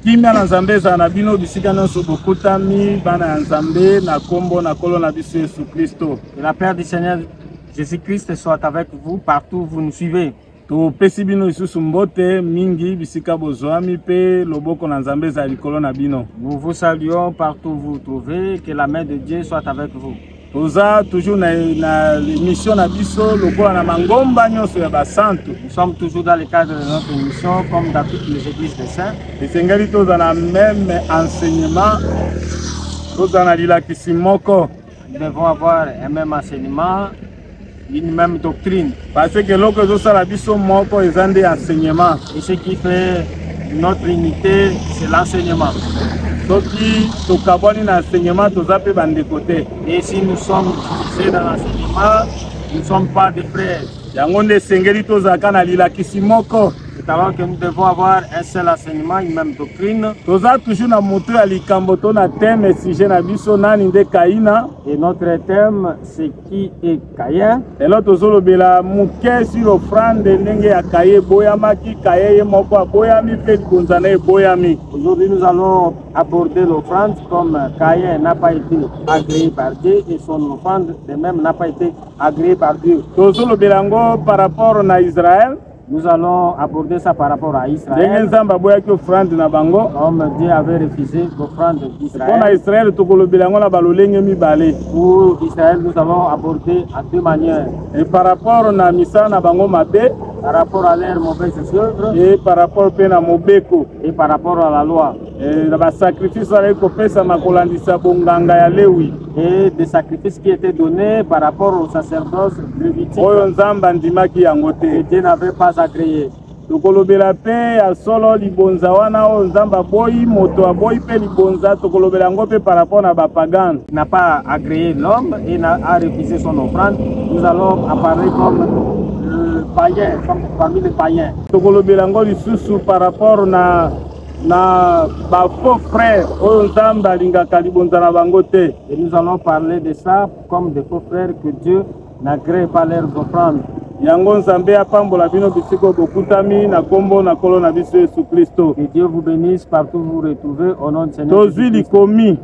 kimia na nzambe ezala na bino bisika nyonso bokutami bana ya nzambe na nkombo na nkolo na biso yesu kristo la père du seigneur jésus christ soit avec vous partout vous nous suivez topesi bino lisusu mbote mingi bisika bozwami mpe loboko na nzambe ezala likolo na bino nous vous saluons partout vous trouvez que la main de dieu soit avec vous toza toujours na, na émission na biso lokola na mangomba nyonso ya basantu nous sommes toujours dans le cadre de notre émission comme dans toutes les églises des saints esengeli toza na même enseignement toza na lilakisi moko nous devons avoir un même enseignement une même doctrine. Parce que l'autre chose ça la biso moko ils ont des enseignements. Et ce qui fait notre unité, c'est l'enseignement. soki tokabwani na enseignement toza mpe bandeko te et si nous sommes divisés dans l'enseignement nous ne sommes pas des frères yango nde esengeli tozalaka na lilakisi moko talent que nous devons avoir un seul enseignement, une même doctrine. Toza toujours na moto ya likambo to na thème sujet na biso nani nde Kaina et notre thème c'est qui est Kaye lelo tozolobela moke sur offrande ndenge ya Kaye eboyamaki Kaye ye moko aboyami mpe libonza na eboyami aujourd'hui nous allons aborder l'offrande comme Kaye n'a pas été agréé par Dieu et son offrande de même n'a pas été agréée par Dieu tozolobela yango par rapport na Israël Nous allons aborder ça par rapport à Israël. Ndenge Nzambe aboyaki offrande na bango. Comme Dieu avait refusé l'offrande d'Israël. Pona Israël tokolobela yango na balolenge mibale. Pour Israël nous allons aborder à deux manières. Et par rapport na misa na bango mabe. Par rapport à leur mauvaise œuvre. Et par rapport pe na mobeko. Et par rapport à la loi. Eh, na basacrifice azalaki kopesama kolandisa bonganga ya lewi et des sacrifices qui étaient donnés par rapport au sacerdoce lévitique oyo nzambe andimaki yango te et dieu n'avait pas agréé tokolobela mpe ya solo libonza wana oyo nzambe aboyi moto aboyi mpe libonza tokolobela yango mpe par rapport na bapagane n'a pas agréé l'homme et n'a a refusé son offrande nous allons apparaître comme euh, païen comme parmi les païens tokolobela yango lisusu par rapport na na ba faux frères oyo Nzambe alingaka libonza na bango te. Et nous allons parler de ça comme des faux frères que Dieu n'agrée pas leurs offrandes. Yango Nzambe apambola bino bisiko bokutami na kombo na kolo na biso Yesu Kristo. Que Dieu vous bénisse partout vous vous retrouvez au nom de Seigneur. Tozui likomi.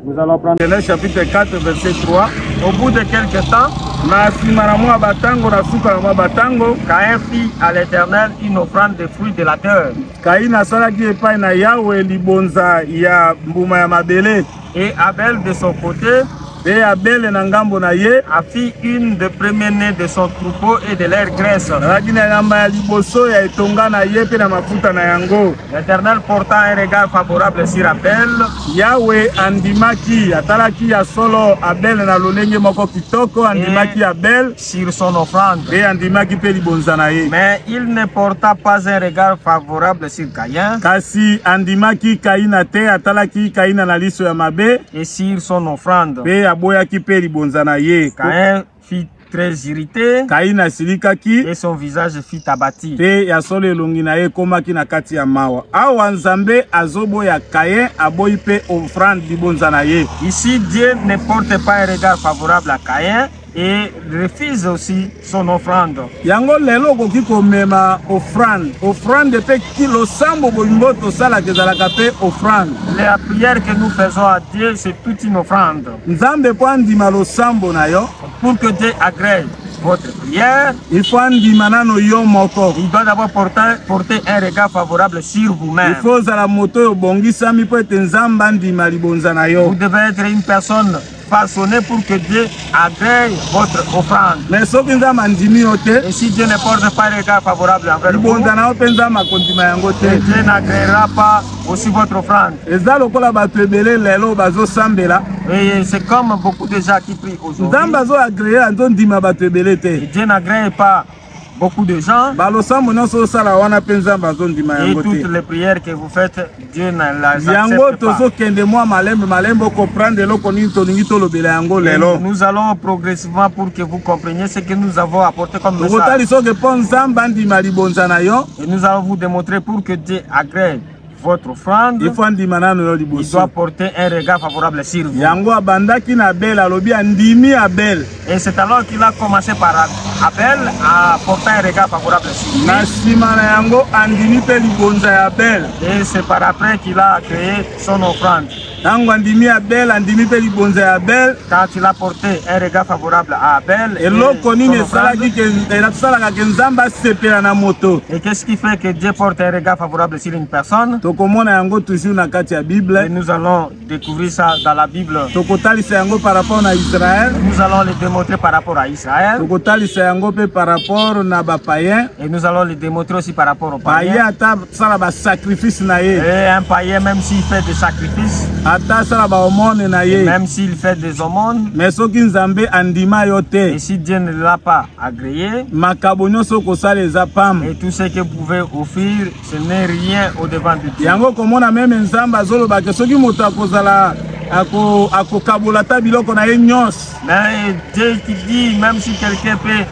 Nous allons prendre Genèse chapitre 4 verset 3. Au bout de quelque temps, na nsima na mwa batango na suka na mwa batango Caïn fit à l'Éternel une offrande de fruits de la terre. Caïn asalaki epai na Yawe libonza ya mbuma ya mabele. Et Abel de son côté et Abel na ngambo na ye a fit une de premier né de son troupeau et de leur graisse. Alaki na yamba ya liboso ya etonga na ye mpe na mafuta na yango. L'Eternel porta un regard favorable sur Abel. Yawe andimaki, atalaki ya solo Abel na lolenge moko kitoko, andimaki Abel sur son offrande. Et andimaki pe libonza na ye. Mais il ne porta pas un regard favorable sur Caïn. Kasi andimaki Kaina te, atalaki Kaina na liso ya mabe. Et sur son offrande. Pe aboyaki pe libonza na ye. Caïn fit très irrité. Kaina asilikaki. Et son visage fit abattu. Pe ya solo elongi na ye ekomaki na kati ya mawa. Awa Nzambe azoboya Caïn aboyi pe offrande libonza na ye. Ici Dieu ne porte pas un regard favorable à Caïn et refuse aussi son offrande. Yango lelo okoki komema offrande. Offrande pe kilo sambo bolingo tosalaka ezalaka pe offrande. La prière que nous faisons à Dieu c'est toute une offrande. Nzambe mpo andima losambo na yo. Pour que Dieu agrée votre prière. Il faut andima nano yo moko. Il doit d'abord porter, porter un regard favorable sur vous-même. Il faut ozala moto oyo obongisami mpo ete Nzambe andima libonza na yo. Vous devez être une personne façonner pour que Dieu agrée votre offrande. Mais soki nzambe andimi yo te. Et si Dieu ne porte pas regard favorable envers vous. Libonza na yo mpe nzambe akondima yango te. Dieu n'agréera pas aussi votre offrande. Eza lokola bato ebele lelo bazosambela. Et c'est comme beaucoup de gens qui prient aujourd'hui. Nzambe azo agréer azo ndima bato ebele te. Dieu n'agrée pas beaucoup de gens. Balosambo nyonso osala wana mpe Nzambe azo ndima yango te. Et toutes les prières que vous faites, Dieu ne les accepte pas. Yango tozokende mwa malembe malembe okomprendre eloko nini tolingi tolobela yango lelo. Nous allons progressivement pour que vous compreniez ce que nous avons apporté comme message. Tokotalisa oke mpo Nzambe andima libonza na yo. Et nous allons vous démontrer pour que Dieu agrée votre offrande. Il faut andima nano yo liboso. Il doit porter un regard favorable sur vous. Yango abandaki na Abel alobi andimi Abel. Et c'est alors qu'il a commencé par Abel à porter un regard favorable sur lui. Na sima na yango andimi pe libonza ya Abel. Et c'est par après qu'il a créé son offrande. Tango andimi Abel, andimi pe libonza ya Abel. Car tu l'as porté un regard favorable à Abel. Eloko nini esalaki ke esalaka ke Nzambe asepela na moto? Et qu'est-ce qui fait que Dieu porte un regard favorable sur une personne? Tokomona yango toujours na kati ya Bible. Et nous allons découvrir ça dans la Bible. Tokotalisa yango par rapport na Israël. Nous allons le démontrer par rapport à Israël. Tokotalisa yango pe par rapport na ba païens. Et nous allons le démontrer aussi par rapport aux païens. sala ba sacrifice na ye et un païen même s'il fait des sacrifices ata sala ba aumône na ye même s'il fait des aumônes mais soki nzambe andima yo te et si Dieu ne l'a pas agréé makabo nyonso kosala eza pam et tout ce que pouvez offrir ce n'est rien au devant de Dieu yango komona meme nzambe azoloba ke soki moto akozala akokabola ata biloko na ye nyonso mais Dieu qui dit même si quelqu'un peut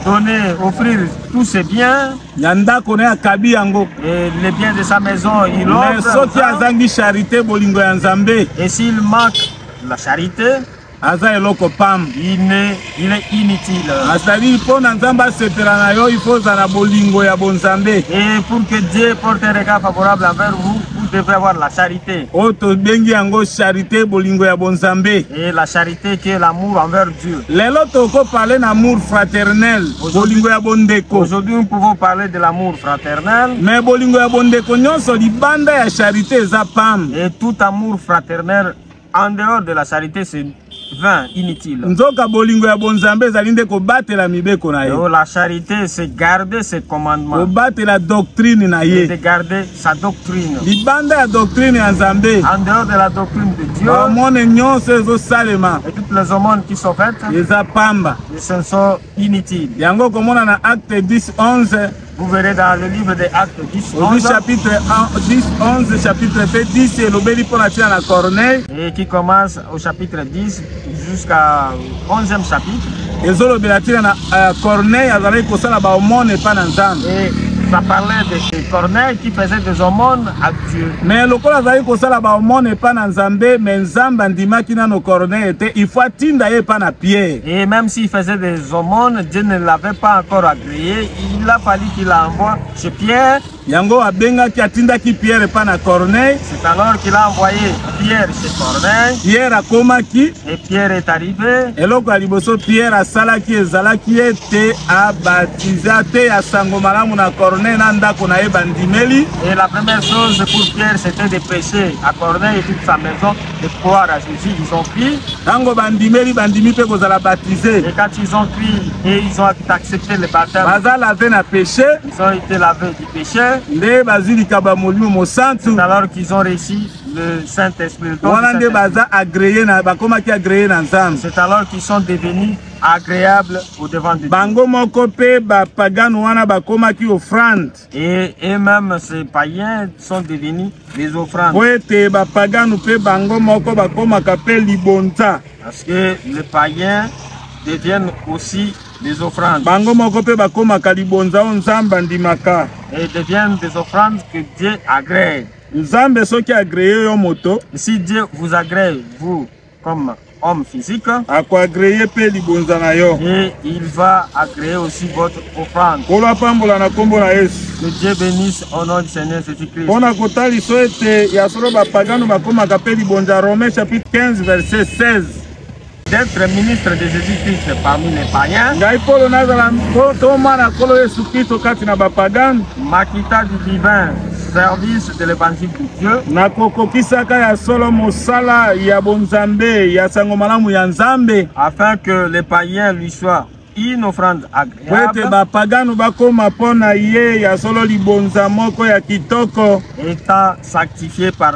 donner offrir tous ses biens ya ndako naye akabi yango eh, les biens de sa maison il mais soki azangi charité bolingo ya nzambe et s'il manque la charité aza eloko pam il est inutile azali mpo na nzambe asepela na yo ifo ozala na bolingo ya bonzambe et pour que dieu porte un regard favorable envers vous vous devez avoir la charité oyo tobengi yango charité bolingo ya bonzambe et la charité te que l'amour envers Dieu. Lelo toko parler d'amour fraternel, bolingo ya bondeko. Aujourd'hui nous pouvons parler de l'amour fraternel. Mais bolingo ya bondeko nyonso libanda ya charité eza pam. Et tout amour fraternel en dehors de la charité c'est vain, inutile. Nzoka bolingo ya bonzambe ezali nde kobatela mibeko na ye. Oh, la charité c'est garder ses commandements. Kobatela doctrine na ye. C'est garder sa doctrine. libanda ya doctrine ya nzambe En dehors de la doctrine de Dieu bamone nyonso ezosalema et toutes les aumônes qui sont faites, eza pamba ils sont- sont inutiles. yango okomona na acte 10 11 Vous verrez dans le livre des Actes 10, ozwi 11, chapitre 1, 10 11 chapitre mpe 10 elobeli mpo na ntina na corneille et qui commence au chapitre 10 jusqu'à 11e chapitre ezolobela ntina na euh, corneille azalaki kosala baomone epai na nzambe eh, ça parlait de corneille qui faisait des aumônes à dieu mais lokola azalaki kosala baomone epai na nzambe mais nzambe andimaki nano corneille te il faut atinda ye epai na pierre et même s'il faisait des aumônes dieu ne l'avait pas encore agréé il a fallu qu'il envoie chez pierre Yango abengaki atindaki Pierre epai na Corneille. C'est alors qu'il a envoyé Pierre chez Corneille. Pierre akomaki. Et Pierre est arrivé. Eloko ya liboso Pierre asalaki ezalaki ete abatiza te ya sango malamu na Corneille na ndako na ye bandimeli. Et la première chose pour Pierre c'était de prêcher à Corneille et toute sa maison de croire à Jésus. Ils ont pris. Tango bandimeli bandimi pe kozala baptisé. Et quand ils ont pris et ils ont accepté le baptême. Baza lavé na péché. Ils ont été lavés du péché. Nde bazwi likabo ya Molimo Mosantu. C'est alors qu'ils ont reçu le Saint-Esprit. Wana nde baza agréé na bakomaki agréé na Nzambe. C'est alors qu'ils sont devenus agréables au devant de Dieu. Bango moko pe ba pagan wana bakomaki offrande. Et et même ces païens sont devenus des offrandes. Po ete ba pagan pe bango moko bakomaka pe libonza. Parce que les païens deviennent aussi Des offrandes. Bango moko pe bakomaka libonza o Nzambe andimaka. Et deviennent des offrandes que Dieu agrée. Nzambe soki agree yo moto. Si Dieu vous agrée, vous, comme homme physique. Akoagree pe libonza na yo. Et il va agréer aussi votre offrande. Kolo apambola na kombo na Yesu. Que Dieu bénisse au nom du Seigneur Jésus-Christ. Pona kotaliso ete ya solo bapagano bakomaka pe libonza Romains chapitre 15 verset 16. d'être ministre de Jésus-Christ parmi les païens. Ngai Polo nazala ntoma na Nkolo Yesu Kristo kati na bapagano. Makita du divin service de l'évangile de Dieu. Na kokokisaka ya solo mosala ya bonzambe ya sango malamu ya Nzambe. Afin que les païens lui soient une offrande agréable. Po ete bapagano bakoma mpo na ye ya solo libonza moko ya kitoko. Étant sanctifié par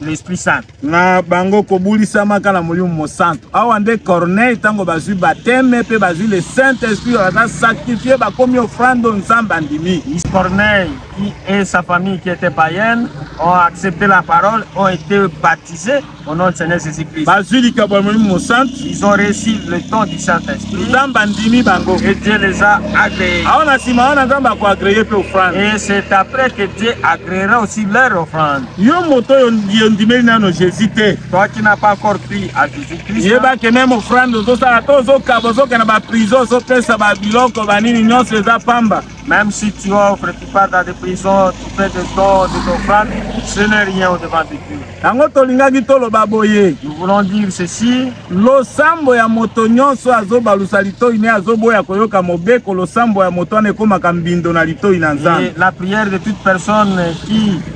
l'Esprit Saint. na bango kobulisamaka na molimo mosantu awa nde corneille ntango bazwi bateme mpe bazwi le saint esprit baza sanctifie bakomi ofrando nzambe andimi corneille qui est sa famille qui était païenne ont accepté la parole ont été baptisés au nom de seigneur jésus christ bazwi likabo ya molimo mosantu ils ont reçu le temps du saint esprit nzambe andimi bango et dieu les a agréés awa na nsima wana nzambe akoagreye mpe ofrande et c'est après que dieu agréera aussi leur offrande Yo moto oyo ondimeli nano Jésus te. Toi qui n'a pas encore cru à Jésus Christ. Yeba que même offrande ozosala to ozokaba ozokenda ba prison ozopesa ba biloko ba nini nyonso eza pamba. Même si tu offres, tu pars dans des prisons, tu fais des dons, des offrandes, ce n'est rien au devant de Dieu. Yango tolingaki toloba boye. Nous voulons dire ceci. Losambo ya moto nyonso azobalusa litoi ne azoboya koyoka mobeko losambo ya moto wana ekomaka mbindo na litoi na Nzambe. La prière de toute personne qui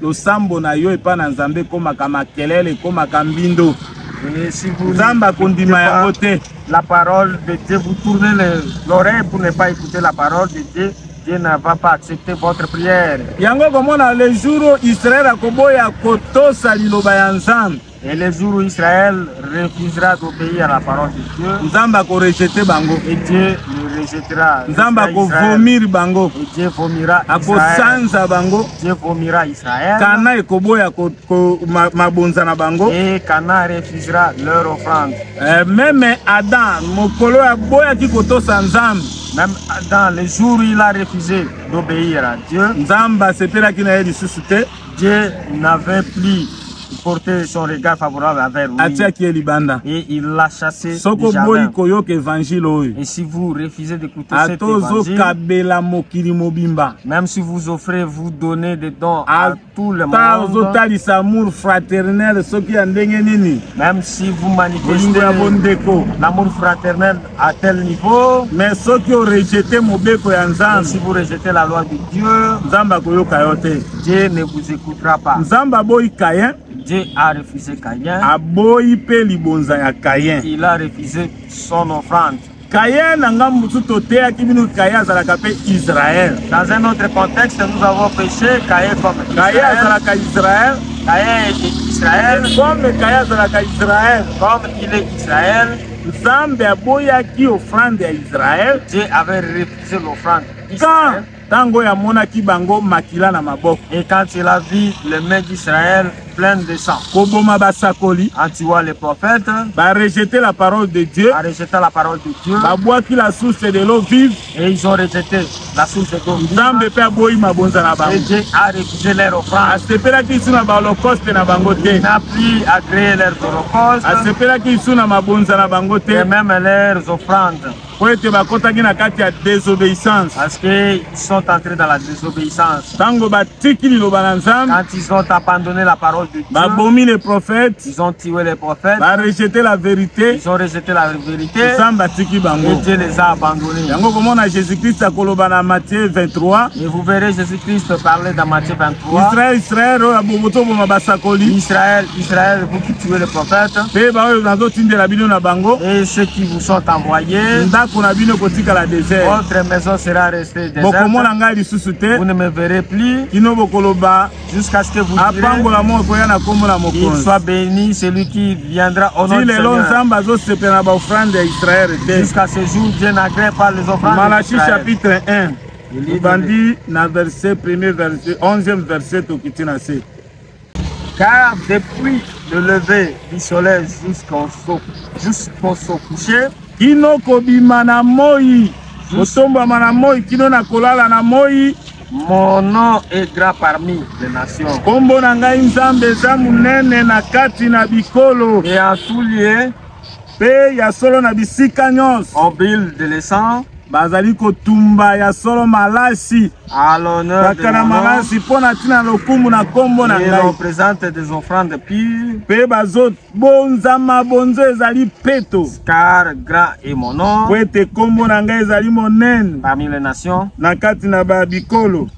Losambo na yo epai na Nzambe ekomaka makelele, ekomaka mbindo. Nzambe akondima yango te. La parole de Dieu, vous tournez l'oreille pour ne pas écouter la parole de Dieu. Dieu ne va pas accepter votre prière. Yango komona le jour Israël akoboya kotosa liloba ya Nzambe. Et le jour où Israël refusera d'obéir à la parole de Dieu, Nzambe ako rejeter bango. Et Dieu le rejettera. Nzambe ako vomir bango. Et Dieu vomira Ako sanza bango. Dieu vomira Israël. Kana ekoboya ko, ko ma, mabonza na bango. Et Kana refusera leur offrande. Euh, même Adam, mokolo ya boya ki kotosa Nzambe. Même Adam, le jour où il a refusé d'obéir à Dieu, Nzambe asepelaki na ye lisusu te. Dieu n'avait plus porté son regard favorable envers lui. atiaki ye libanda Et il l'a chassé du soko boyi jardin. koyoka evangile oyo Et si vous refusez d'écouter cet ata évangile, ozokabela mokili mobimba même si vous offrez, vous donnez des dons à Ata tout le ata monde, ozotalisa amour fraternel soki ya ndenge nini même si vous bolingo ya manifestez bondeko l'amour fraternel à tel niveau mais soki orejete mobeko ya nzambe si vous rejetez la loi de dieu nzambe akoyoka yo te dieu ne vous écoutera pas nzambe aboyi kayen Dieu a refusé Caïn. Aboyi pe libonza ya Caïn. Il a refusé son offrande. Caïn na ngambo mosusu toteyaki bino Caïn azalaka pe Israël. Dans un autre contexte, nous avons péché Caïn comme Israël. Caïn azalaka Israël. Caïn est Israël. Comme Caïn azalaka Israël. Comme il est Israël. Nzambe aboyaki ofrande ya Israel. Dieu avait refusé l'offrande. Quand tango ya monaki bango makila na maboko. Et quand il a vu les mains d'Israël pleines de sang. Koboma basakoli. En tuant les prophètes. Ba rejeter la parole de Dieu. A rejeter la parole de Dieu. Ba boaki la source de l'eau vive. Et ils ont rejeté la source de Congo. Nzambe pe aboyi mabonza na bango. Et Dieu a refusé leur offrande. Asepelaki isu na baholocaust na bango te. Il n'a plus agréé leurs holocaustes. Asepelaki isu na mabonza na bango te. Et même leurs offrandes. Po ete bakotaki na kati ya désobéissance. Parce que ils sont entrés dans la désobéissance. Tango batiki liloba na Nzambe. Quand ils ont abandonné la parole de Dieu. Babomi les prophètes. Ils ont tué les prophètes. Ba rejeté la vérité. Ils ont rejeté la vérité. Nzambe atiki bango. Et Dieu les a abandonnés. Yango komona Jésus-Christ akoloba na Matthieu 23. Et vous verrez Jésus-Christ parler dans Matthieu 23. Israël, Israël, oyo aboboto boma basakoli. Israël, Israël, vous qui tuez les prophètes. Pe ba oyo nazo tindela bino na bango. Et ceux qui vous sont envoyés. Ndako na bino kotika la désert. Votre maison sera restée bokomona ngai lisusu te vous ne me verrez plus kino bokoloba jusqu'à ce que vous apambola moko ekoya na kombo na mokonzi il soit béni celui qui viendra au nom du Seigneur lelo nzambe azosepela na baofrande ya israel te jusqu'à ce jour dieu n'agrée pas les offrandes malachi chapitre 1 libandi na verset premier verset 11e verset tokiti na se Car depuis le lever du soleil jusqu'au so, jusqu'au se coucher, kino kobima na moi, kosombama na moi, kino na kolala na moi, mon nom est grand parmi les nations. Kombo na ngai Nzambe eza monene na kati na bikolo. Et en tout lieu, Mpe ya solo na bisika nyonso. Au build de l'essence. bazali kotumba ya solo malasi kaka na malasi mpo na ntina lokumu na nkombo na ngai mpe bazobonza mabonzo ezali peto mpo ete nkombo na ngai ezali monene na kati na babikolo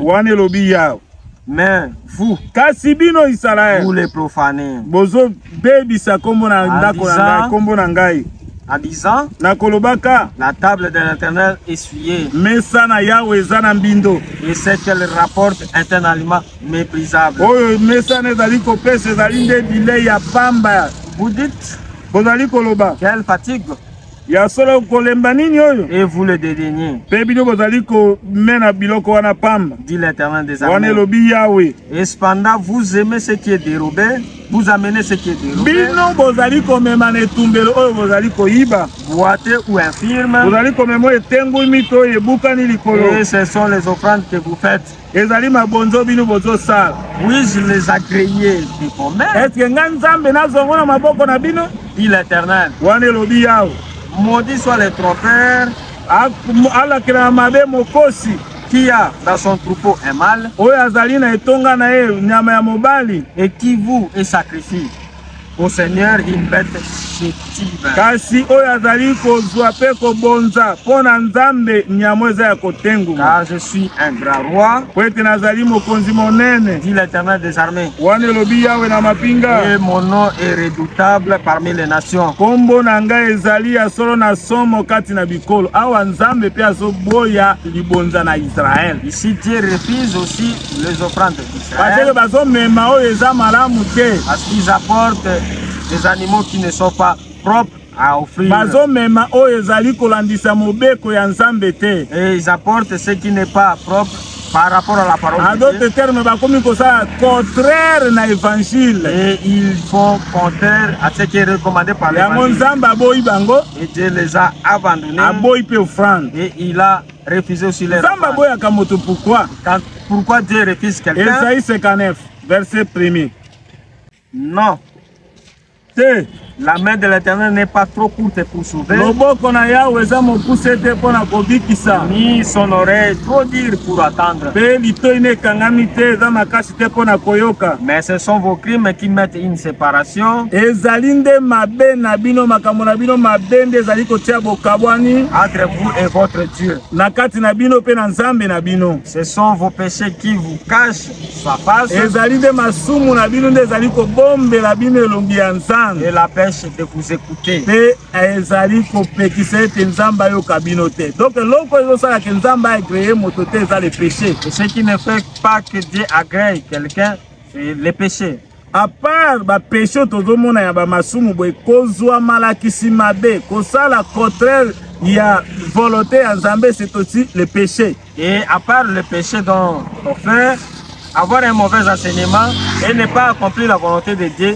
wana elobi yawe mais vous kasi bino Israël vous les profanés bozo bebisa kombo na ndako na ngai kombo na ngai en disant nakolobaka la table de l'éternel essuyée mesa na yawe eza na mbindo et ce qu'elle rapporte est un aliment méprisable oyo mesa na ezali kopesa ezali nde bilei ya pamba vous dites bozali koloba quelle fatigue ya solo kolemba nini oyo et vous le devenir mpe bino bozali komena biloko wana pamba dit l'éternel des armées wana elobi yawe et cependant vous aimez ce qui est dérobé vous amenez ce qui est dérobé bino bozali komema na etumbelo oyo bozali koyiba boite ou infirme bozali komema oyo etengwimi to oyo ebukani likolo et ce sont les offrandes que vous faites ezali mabonzo bino bozosala oui je les a créé de commun est ce que ngai nzambe nazongo na maboko na bino dit l'éternel wana elobi yawe maudit soit le trompeur alakelaka mabe mokosi qui a dans son troupeau un mâle oyo azali na etonga na ye nyama ya mobali et qui vous et sacrifie Au Seigneur une bête chétive. Kasi oyo azali kozwa mpe kobonza mpo na Nzambe nyamo eza ya kotenguma. Car je suis un grand roi. Mpo ete nazali mokonzi monene. Dit l'Éternel des armées. Wana elobi Yawe na mapinga. Et mon nom est redoutable parmi les nations. Kombo na ngai ezali ya solo na somo kati na bikolo. Awa Nzambe mpe azoboya libonza na Israël. Ici Dieu refuse aussi les offrandes. Parce que bazo mema oyo eza malamu te. Parce qu'ils apportent des animaux qui ne sont pas propres à offrir. Bazo mema oyo ezali kolandisa mobeko ya Nzambe te. Et ils apportent ce qui n'est pas propre par rapport à la parole. En d'autres termes, bakomi kosala contraire na évangile. Et ils font contraire à ce qui est recommandé par l'évangile. Yango Nzambe aboyi bango. Et Dieu les a abandonnés. Aboyi pe offrande. Et il a Refuser aussi leur Nzambe aboyaka moto pourquoi Quand, Pourquoi Dieu refuse quelqu'un Esaïe 59, verset 1er. Non. Te. La main de l'Éternel n'est pas trop courte pour sauver. Loboko na Yahweh eza mokuse te mpo na kobikisa. Ni son oreille trop dire pour attendre. Mpe litoi na ekangami te eza makasi te mpo na koyoka. Mais ce sont vos crimes qui mettent une Paration. Ezali nde mabe na bino makambo na bino mabe nde ezali kotia bokabwani entre vous et votre Dieu. Na kati na bino pe na Nzambe na bino. Ce sont vos péchés qui vous cachent sa face. Ezali nde masumu na bino nde ezali kobombela bino elongi ya Nzambe. Et la pêche de vous écouter. Pe ezali kopekisa ete Nzambe ayoka bino te. Donc eloko ezosala ke Nzambe agree moto te eza le péché. Et ce qui ne fait pas que Dieu agree quelqu'un C'est le péché. À part ba péché tozomona ya ba masumu boye kozwa malakisi mabe kosala contraire ya volonté ya Nzambe c'est aussi le péché. Et à part le péché dont on fait avoir un mauvais enseignement et ne pas accomplir la volonté de Dieu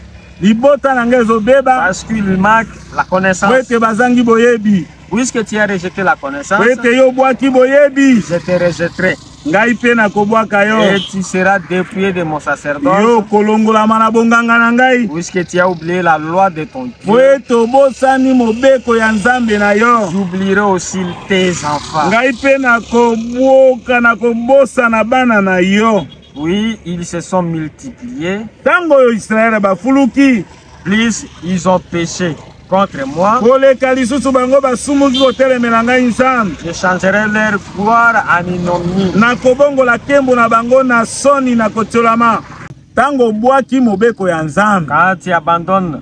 libota na ngai ezobeba parce que lui manque la connaissance po ete bazangi boyebi puisque tu as rejeté la connaissance po ete yo obwaki boyebi je te rejetterai ngai mpe nakobwaka yo et tu seras dépouillé de mon sacerdoce yo okolongolama na bonganga na ngai puisque tu as oublié la loi de ton Dieu po ete obosani mobeko ya nzambe na yo j'oublierai aussi tes enfants ngai mpe nakobwoka nakobosana bana na yo Oui, ils se sont multipliés. Tango yo Israël ba fuluki. Plus ils ont péché contre moi. Koleka lisusu bango basumuki kotelemela ngai Nzambe. Je changerai leur gloire en ignominie. Nakobongola kembo na bango na soni na kotiolama. Tango bwaki mobeko ya Nzambe. Quand tu abandonnes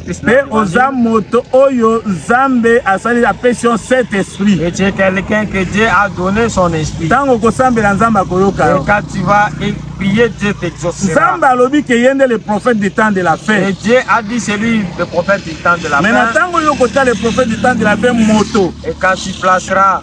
Mpe oza moto oyo Nzambe asali apesi yo cet esprit. Et tu es quelqu'un que Dieu a donné son esprit. Ntango okosambela Nzambe akoyoka yo. Et quand tu vas prier, Dieu t'exaucera. Nzambe alobi que ye nde le prophète du temps de la fin. Et Dieu a dit c'est lui le prophète du temps de la fin. Mais na ntango yo kotya le prophète du temps de la fin moto. Et quand tu placeras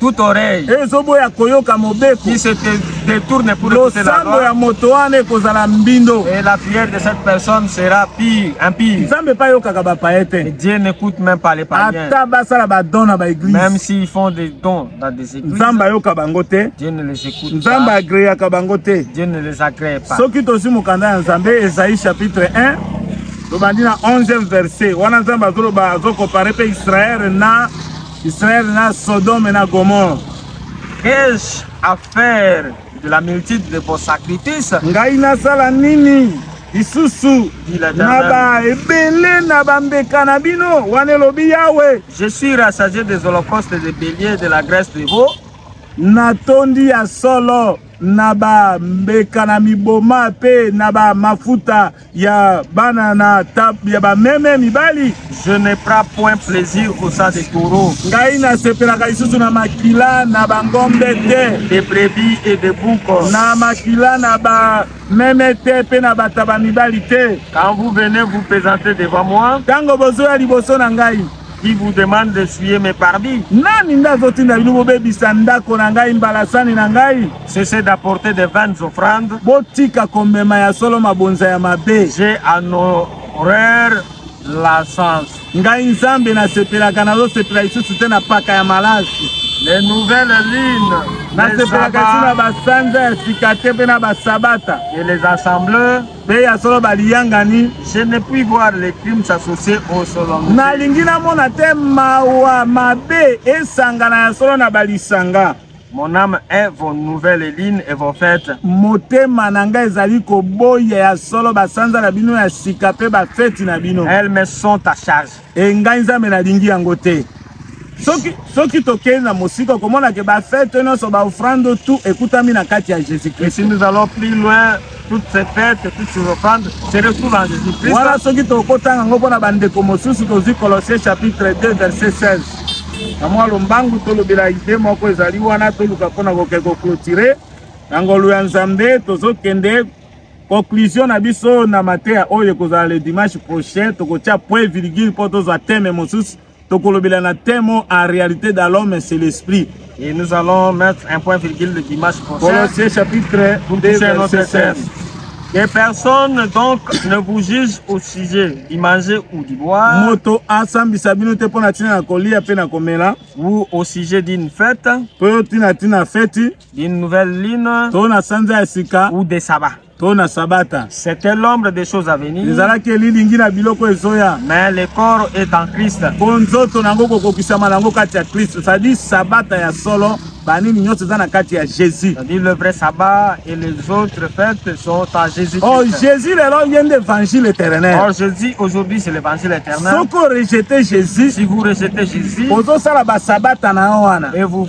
toute oreille ezoboya koyoka mobeko qui se détourne pour écouter la loi ya moto wana ekozala mbindo et la prière de cette personne sera pire impire nzambe pa yokaka ba paye te Dieu n'écoute même pas les païens ata basala ba dons na ba église même s'ils font des dons dans des églises nzambe ayoka bango te Dieu ne les écoute pas nzambe agréaka bango te Dieu ne les agrée pas soki tozwi mokanda ya nzambe Esaïe chapitre 1 tobandi na 11e verset wana nzambe azoloba azokompare mpe Israël na Israël na Sodome na Gomorre. Qu'ai-je à faire de la multitude de vos sacrifices? Ngai nasala nini lisusu na ba ebele na bambeka na bino wana elobi yawe je suis rassasié des holocaustes de bélier de la graisse de veau natondi ya solo na bambeka na miboma mpe na bamafuta ya bana na tap ya bameme mibali je ne prends point plaisir au sang de taureau ngai nasepelaka lisusu na makila na bangombe te de brebis et de bouko na makila na ba meme te mpe na bataba mibali te quand vous venez vous présenter devant moi ntango bozoya liboso na ngai qui vous demande de suyer mes pardis nani nde azotinda bino bobebisa ndako na ngai mbalasani na ngai cessez d'apporter des vaines offrandes botika komema ya solo mabonza ya mabe j'ai en horreur la sens ngai nzambe nasepelaka nazosepela lisusu te na paka ya malasi les nouvelles lunes nasepelaka lisusu na basanza ya sika te mpe na basabata et les assembleurs mpe ya solo baliyangani je ne puis voir les crimes s'associer au solo nalingi namona te mawa mabe esangana ya solo na balisanga Mon âme est vos nouvelles lignes et vos fêtes. Motema na ngai ezali koboya ya solo basanza na bino ya sika mpe bafeti na bino. Elles me sont à charge. e ngai nzambe nalingi yango te soki, soki tokei na mosika okomona ke bafete nyonso baofrande tout ekutami na kati ya jésus christ si nous allons plus loin toutes ces fêtes toutes ces offrandes se retrouvent en jésus christ wana soki tokotanga yango mpo na bandeko mosusu tozwi colossier chapitre 2 verset 16 na mwa lombangu tolobela ide moko ezali wana toluka mpo na kokei koklotire na ngolu ya nzambe tozokende Conclusion na biso na mateya oyo ekozala le dimanche prochain, tokotia point virgule mpo tozwa teme mosusu tokolobela na temo en réalité dans l'homme c'est l'esprit et nous allons mettre un point virgule le dimanche prochain Colossiens chapitre 2 verset 16 que personne donc ne vous juge au sujet du manger ou du boire. Moto asambisa bino te pona tina na kolia pe na komela. Ou au sujet d'une fête. Pe tina tina fête. D'une nouvelle lune. To na sanza ya sika. Ou de sabbat. To na sabata. C'était l'ombre des choses à venir. Ezalaki elilingi na biloko ezoya. Mais le corps est en Christ. Mpo nzoto na yango kokokisama na yango kati ya Kristo. C'est-à-dire sabata ya solo banini nyonso eza na kati ya jésus dit le vrai sabbat et les autres fêtes sont à jésus oh jésus lelo ye nde évangile éternel or oh, jésus aujourd'hui c'est l'évangile éternel soki orejete jésus si vous rejetez jésus ozosala basabata na yo wana et vous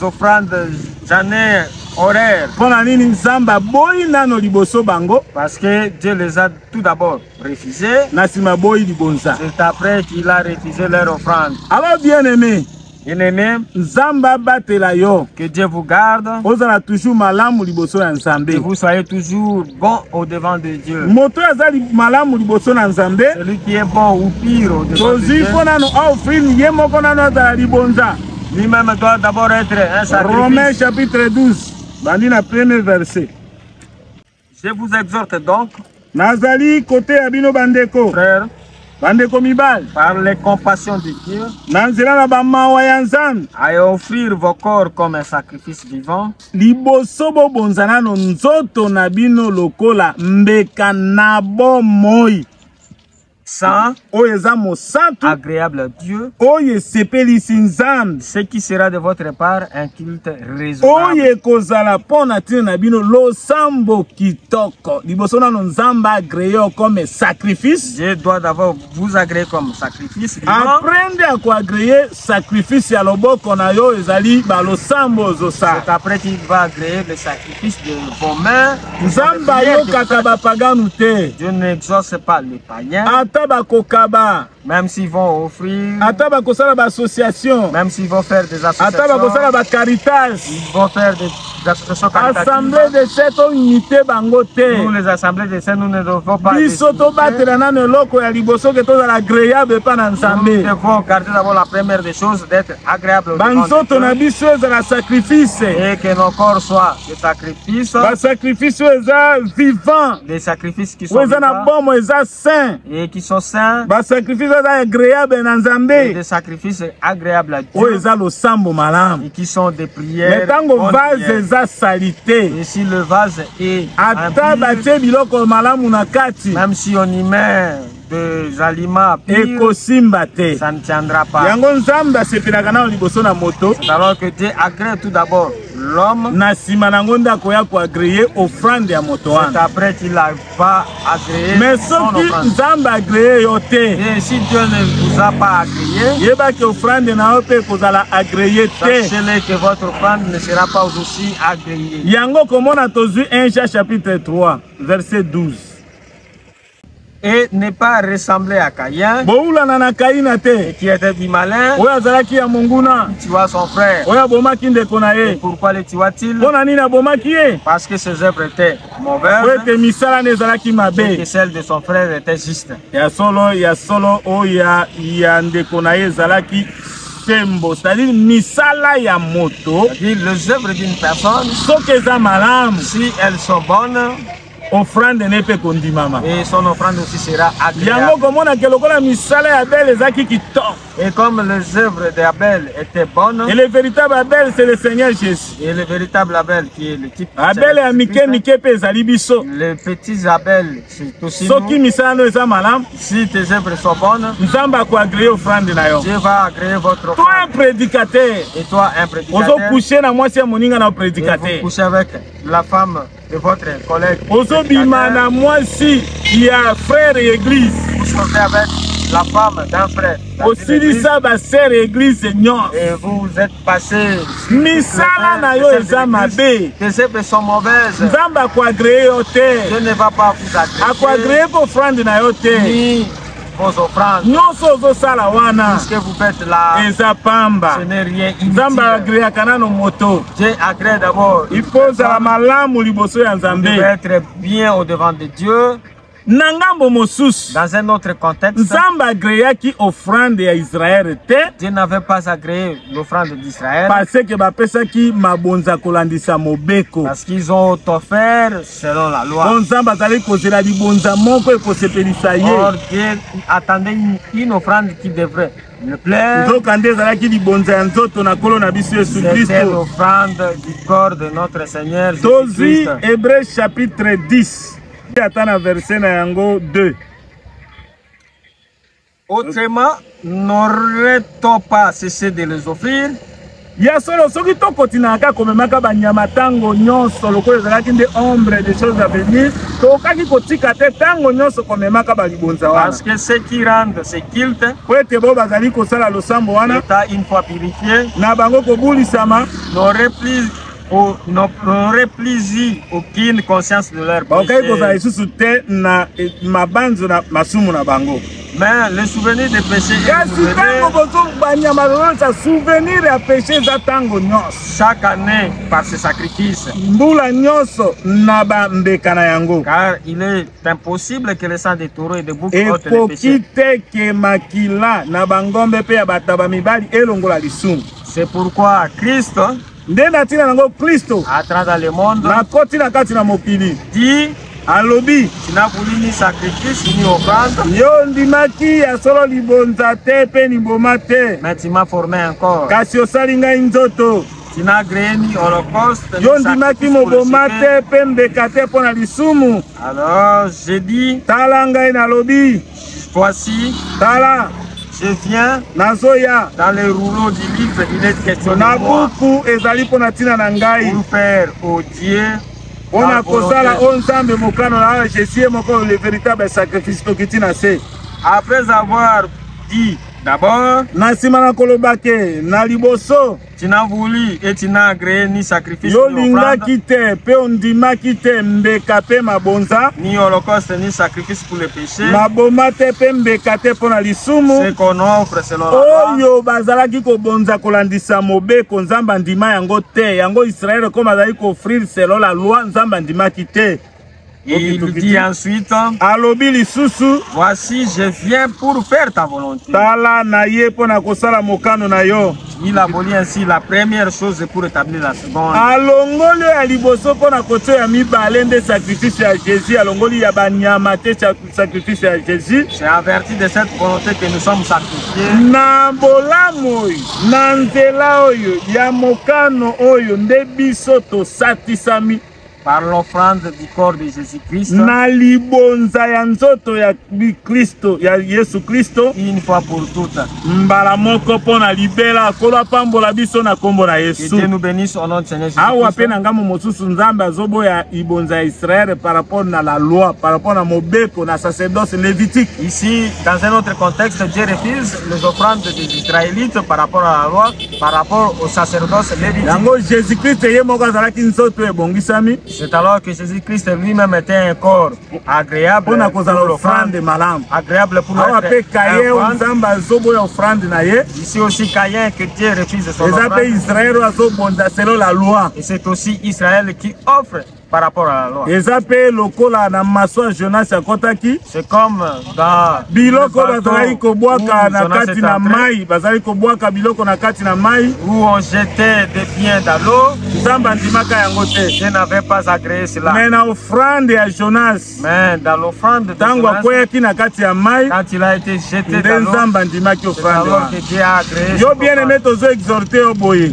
offrande j'année horaire. Pona nini Nzambe aboyi nano liboso bango? Parce que Dieu les a tout d'abord refusés. Na sima boyi libonza. C'est après qu'il a refusé leur offrande. Alors bien aimé, Bien-aimé, Nzambe abatela yo. Que Dieu vous garde. Ozala toujours malamu liboso ya Nzambe. Que vous soyez toujours bon au devant de Dieu. Moto azali malamu liboso na Nzambe. Celui qui est bon ou pire au devant de Dieu. Tozui mpo nano offrir ye moko nano azala libonza. Lui-même doit d'abord être un sacrifice. Romains chapitre 12, bandi na premier verset. Je vous exhorte donc, nazali kote ya bino bandeko frères, bandeko mibali par les compassions de Dieu, na nzela na bamawa ya nzambe à offrir vos corps comme un sacrifice vivant, liboso bobonza nano nzoto na bino lokola mbeka na bomoi Saint, oyo eza mosantu, agréable à Dieu, oyo esepelisi Nzambe, ce qui sera de votre part un culte raisonnable, oyo ekozala mpo na ntina na bino losambo kitoko. Liboso nano Nzambe agree yo comme sacrifice, Dieu doit d'abord vous agréer comme sacrifice vivant. après nde akoagree Sacrifice ya loboko na yo ezali ba losambo ozosa. C'est après qu'il va agréer le sacrifice de vos mains. Nzambe ayokaka bapaganu te. Dieu n'exauce pas les païens. Ata bakokaba. Même s'ils vont offrir. Ata bakosala ba associations. Même s'ils vont faire des associations. Ata bakosala ba caritas. Ils vont faire des d'association caritative. Assemblée de saint toyinite bango te. Nous les assemblées de saint nous ne devons pas. Biso tobatela nano eloko ya liboso ke tozala agréable epa na Nzambe. Nous devons garder d'abord la première des choses d'être agréable. Banzoto na biso ezala sacrifice. Et que nos corps soient des sacrifices. Ba sacrifices oyo eza vivant. Les sacrifices qui sont vivants. Oyo eza na bomo eza saint et qui sont saints ba sacrifice eza agréable na nzambe des sacrifices agréables à Dieu oyo eza losambo malamu et qui sont des prières mais tango vase eza salite et si le vase est ata batie biloko malamu na kati même si on y met des aliments ekosimba te ça ne tiendra pas yango nzambe asepelaka nao liboso na moto alors que Dieu agrée tout d'abord l'homme na nsima na yango nde akoya koagreye offrande ya moto wana pas agréé. Mais sauf que Nzamba agréé yo te. Et eh, si Dieu ne vous a pas agréé. Yeba que offrande na yo pe kozala agréé te. Sachez que votre offrande ne sera pas aussi agréée. Yango comment on a tozui 1 Jean chapitre 3 verset 12. et ne pas ressembler à Caïn. Boulana na Caïna te. Et qui était du malin. Oya azalaki ya monguna. Tu vois son frère. Oya bomaki ndeko na ye. Pourquoi le tuas-t-il? Pona nini abomaki ye? Parce que ses œuvres étaient mpo ete misala na ezalaki mabe ya solo ya solo oyo ya ndeko na ye ezalaki sembo c'est-à-dire misala ya moto soki eza malamu si elles sont bonnes offrande ne mpe kondimama yango komonake lokola misala ya bele ezalaki kitoko Et comme les œuvres d'Abel étaient bonnes. Et le véritable Abel, c'est le Seigneur Jésus. Et le véritable Abel qui est le type. Abel ya mike mike pe ezali biso. Les petits Abel, c'est aussi nous. Soki misala no eza malam. Si tes œuvres sont bonnes. Nzambe ako agréer offrande na yo. Dieu va agréer votre offrande. Toi un prédicateur. Et toi un prédicateur. Ozo coucher na mwasi ya moninga na prédicateur. Vous couchez avec la femme de votre collègue. Ozobima na mwasi ya frère église. Vous sortez avec la femme d'un frère. osilisa basere église nyonso et vous êtes passé misala na yo eza mabe tes œuvres sont mauvaises nzambe akoagreye yo te je ne va pas vous agréer akoagreye ko offrande na yo te bozo prendre nyonso ozosala wana ce que vous faites là eza pamba ce n'est rien nzambe agreaka nano moto je agree d'abord il faut ozala malamu liboso ya nzambe être bien au devant de dieu na ngambo mosusu dans un autre contexte nzambe agreaki offrande ya israele te dieu n'avait pas agréé l'offrande d'israël parce que bapesaki mabonza kolandisa mobeko parce qu'ils ont offert selon la loi. Bon Nzambe azali kozela libonza moko ekosepelisa ye. Or Dieu attendait une, une offrande qui devrait le plaire. Nzoka nde ezalaki libonza ya nzoto na Nkolo na biso Yesu C'était Kristo. l'offrande du corps de notre Seigneur Jésus Tozwi Christ. Hébreu chapitre 10 ata na verset na yango 2. Autrement, n'aurait-on pas cessé de les offrir? ya solo soki tokotinaka kaka komemaka banyama ntango nyonso lokola ezalaki nde ombre de choses avenir tokokaki kotika te ntango nyonso komemaka balibonza wana parce que ce qui rende ce culte po ete bo bazali kosala losambo wana une fois purifie na bango kobulisama n'aurait plus pour n'aurait plus eu aucune conscience de leur bakoki kozala lisusu te na mabanzo na masumu na bango mais le souvenir de péché kasi ntango bozobanya malonza souvenir ya péché eza ntango nyonso chaque année par ce sacrifice mbula nyonso na bambeka na yango car il est impossible que le sang de taureau et de bouc ekoki te ke makila na bangombe mpe ya bataba mibali elongola lisumu c'est pourquoi christ Nde na ntina na yango Klisto nakoti na kati na mokili alobi tinabulini sacrifice ni offrande yo ondimaki ya solo libonza te mpe liboma te mais tu m'as formé encore kasi osali ngai nzoto tinagreni holocauste yo ondimaki moboma te mpe mbeka te mpo na lisumu alors je dis tala ngai nalobi Voici. Tala. Je viens. Nazoya. Dans les rouleaux du livre, il est question na buku ezali mpo na ntina na ngai. Pour faire au Dieu mpo na kosala o nzambe mokano na oyo jésus ye moko le véritable sacrifice tokiti na se après avoir dit d'abord na nsima na koloba ke na liboso Tu n'as voulu et tu n'as agréé ni sacrifice Yo lingaki te pe ondimaki te mbeka pe mabonza ni holocauste ni sacrifice pour le péché maboma te pe mbeka te mpo na lisumu ce qu'on offre selon la loi oyo bazalaki kobonza kolandisa mobeko Nzambe andima yango te yango Israël comme azali koffrir selon la loi Nzambe andimaki te Il dit ensuite, alobi lisusu, voici je viens pour faire ta volonté. Tala na ye mpo na kosala mokano na yo. Il aboli ainsi la première chose pour établir la seconde. Alongoli ya liboso mpo na kotya ya mibale nde sacrifice ya Jésus, alongoli ya banyama te sacrifice ya Jésus. C'est à vertu de cette volonté que nous sommes sacrifiés. Na bolamu oyo, na nzela oyo ya mokano oyo nde biso tosatisami. Par l'offrande du corps de Jésus-Christ. Na libonza ya nzoto ya Kristo ya Yesu Kristo. Une fois pour toutes. Mbala moko mpo na libela kolo apambola biso na nkombo na Yesu. Que Dieu nous bénisse au nom de Seigneur Jésus. Awa mpe na ngambo mosusu Nzambe azoboya ibonza ya Israël par rapport na la loi, par rapport na mobeko na sacerdoce lévitique. Ici, dans un autre contexte, Dieu refuse les offrandes des Israélites par rapport à la loi. par rapport au sacerdoce Lévitique. Yango Jésus-Christ ye moko azalaki nzoto ebongisami. C'est alors que Jésus-Christ lui-même était un corps agréable pour kozala offrande malamu. Agréable pour Awa pe Caïn Nzambe azoboya offrande na ye. Ici aussi Caïn que Dieu refuse son offrande. Eza pe Israël azobonda selon la loi. Et c'est aussi Israël qui offre par rapport à la loi. eza mpe lokola na maswa jonas akɔtaki C'est comme dans biloko le bateau bazalaki kobwaka où na Jonas kati est na entré, mai bazalaki kobwaka biloko na kati na mai où on jetait des biens dans l'eau. nzambe andimaka yango te Je n'avais pas agréé cela. me na ofrande ya jonas Mais dans l'offrande ntango akweyaki na kati ya mai nde nzambe andimaki ofrande wana yo bien aime tozo exhorte yo boye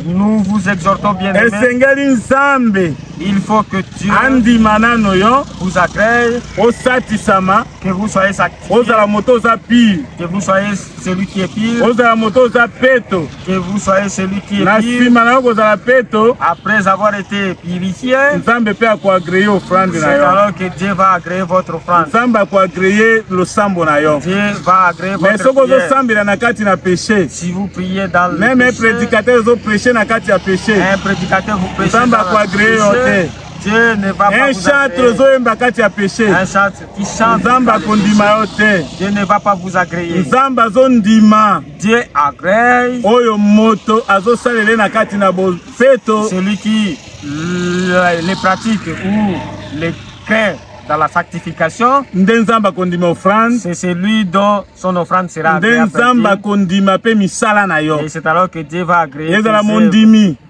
esengeli nzambe il faut que Dieu andima nano yo vous agrée osatisama que vous soyez satisfait ozala moto oza pire que vous soyez celui qui est pire ozala moto oza peto Que vous soyez celui qui est na pur nsima na yo kozala peto après avoir été purifié. nzambe mpe akoagreye ofrande C'est na yo alors que Dieu va agréer votre offrande. nzambe akoagreye losambo na yo Dieu va agréer me votre soki prière. ozosambela na kati na peshe Si vous priez dans le meme péché, prédicateur ezopreche na kati ya peshe un prédicateur vous prêchez Nzambe dans le akoagréer yo péché, te. Dieu ne va pas un vous chantre agréer. ozoyemba kati ya peshe Un chantre qui chante, nzambe akondima yo te Dieu ne va pas vous agréer. nzambe azondima Dieu agrée oyo moto azosalele na kati na bopeto celui qui euh, les pratiques ou les craint dans la sanctification nde nzambe akondima offrande c'est celui dont son offrande sera nde nzambe akondima mpe misala na yo c'est alors que dieu va agréer ezala mondimi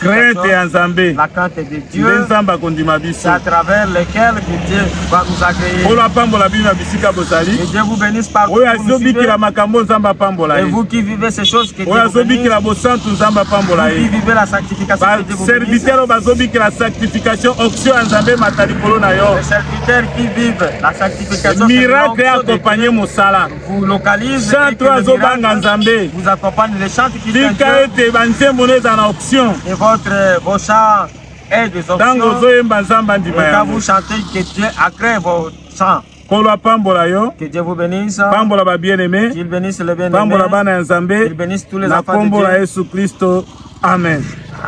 crainte ya nzambe nde nzambe akondima biso oyo apambola bino na bisika bozali oyo azobikela makambo nzambe apambola ye oyo azobikela bosantu nzambe apambola ye baservitere oyo bazobikela sanctification oction ya nzambe emata likolo na yo miracle ya akompanye mosala vous localise chantre azobanga nzambe vous accompagne les chantes qui tika ete banzembo no eza na option et votre vos chants est des options ntango ozoyemba nzambe andima yango quand vous chantez que Dieu agrée vos chants nkolo apambola yo pambola babieneme pambola bana ya nzambe na nkombo na yesu kristo amen